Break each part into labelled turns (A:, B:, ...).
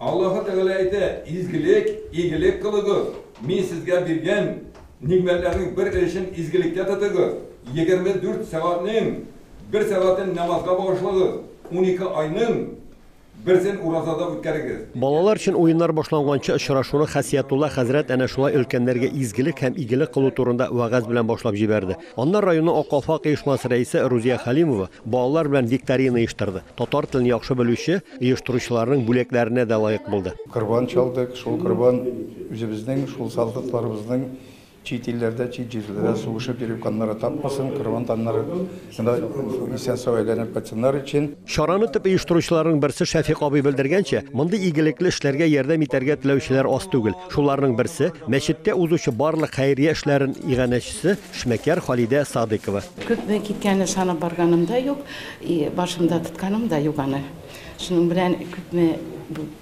A: Аллаһы Тәгалә әйтә, Изгелек, игелек кылыгыз, Мин сезгә биргән нигъмәтләрнең бер өлешен изгелеккә тотыгыз, егерме дүрт сәгатьнең бер сәгатен намазга багышлагыз, унике айның берсен уразада үткәрегез. Балалар өчен уеннар
B: башланганчы очрашуны Хәсиятулла хәзрәт әнә шулай өлкәннәргә изгелек һәм игелек кылу турында вәгазь белән башлап җибәрде. Аннары районның Ак калфак оешмасы рәисе Рузия Хәлимова, Балалар белән викторина оештырды. Татар телен яхшы белүче оештыручыларның бүләкләренә дә лаек булды. Корбан чалдык.
C: Шул корбан үзебезнең, шул солдатларыбызның чит илләрдә, чит җирләрдә сугышып йөреп каннары тапмасын, корбан каннары гына исән-сау әйләнеп кайтсыннар өчен. Чараны төп оештыручыларның
B: берсе Шәфикъ абый белдергәнчә, мондый игелекле эшләргә ярдәм итәргә теләүчеләр аз түгел. Шуларның берсе, мәчеттә узучы барлык хәйрия эшләрен иганәчесе, эшмәкәр Халидә Садыйкова. Күпме киткәнен
D: санап барганым да юк, и башымда тотканым да юк аны. Шуның белән күпме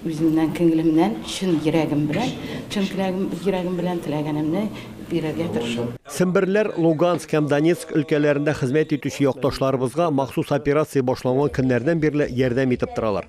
D: үземнән, күңелемнән, чын йөрәгем белән, чын теләгем, йөрәгем белән теләгәнемне бирергә тырышам.
B: Семберләр Луганск һәм Донецк өлкәләрендә хезмәт итүче якташларыбызга махсус операция башланган көннәрдән бирле ярдәм итеп торалар.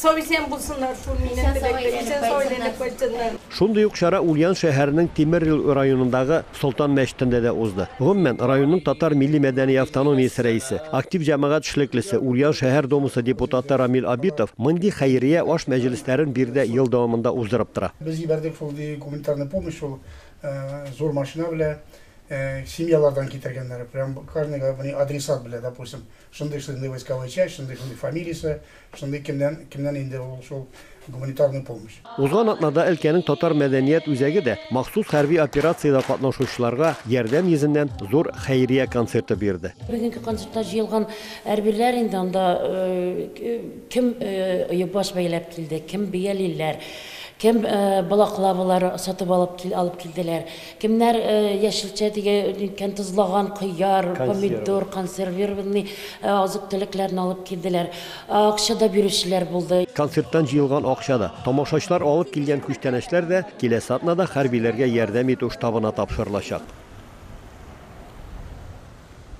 E: Сау-исән булсыннар шул минем теләктә, исән сау әйләнеп кайтсыннар. Шундый ук чара
B: Ульян шәһәренең Тимерьел районындагы Солтан мәчетендә дә узды. Гомумән, районның татар милли-мәдәни автономиясе рәисе, актив җәмәгать эшлеклесе, Ульян шәһәр Домасы депутаты Рамил Абитов мондый хәйрия аш мәҗлесләрен биредә ел дәвамында уздырып тора. Без җибәрдек шундый
F: гуманитарный помощь, ул зур машина белә семьялардан китергәннәр, прям карнега, менә адресат белә, допустим, шундый-шундый войсковой часть, шундый-шундый фамилиясе, Шундый кемнән, кемнән инде ул шул гуманитарный помощь. Узган атнада
B: өлкәнең татар мәдәният үзәге дә махсус хәрби операциядә катнашучыларга ярдәм йөзеннән зур хәйрия концерты бирде. Бүгенге концертта
G: җыелган әрбиләр инде анда кем оебаш бәйләп килде, кем биялиләр, кем балаклавалар сатып алып алып килделәр, Кемнәр яшелчә диге ниткән тозлаган кыяр, помидор, консервированный азык-төлекләрне алып килделәр. Акча да бирүчеләр булды. Концерттан җыелган
B: акча да, тамашачылар алып килгән күчтәнәчләр дә киләсе атнада хәрбиләргә ярдәм итү штабына тапшырылачак.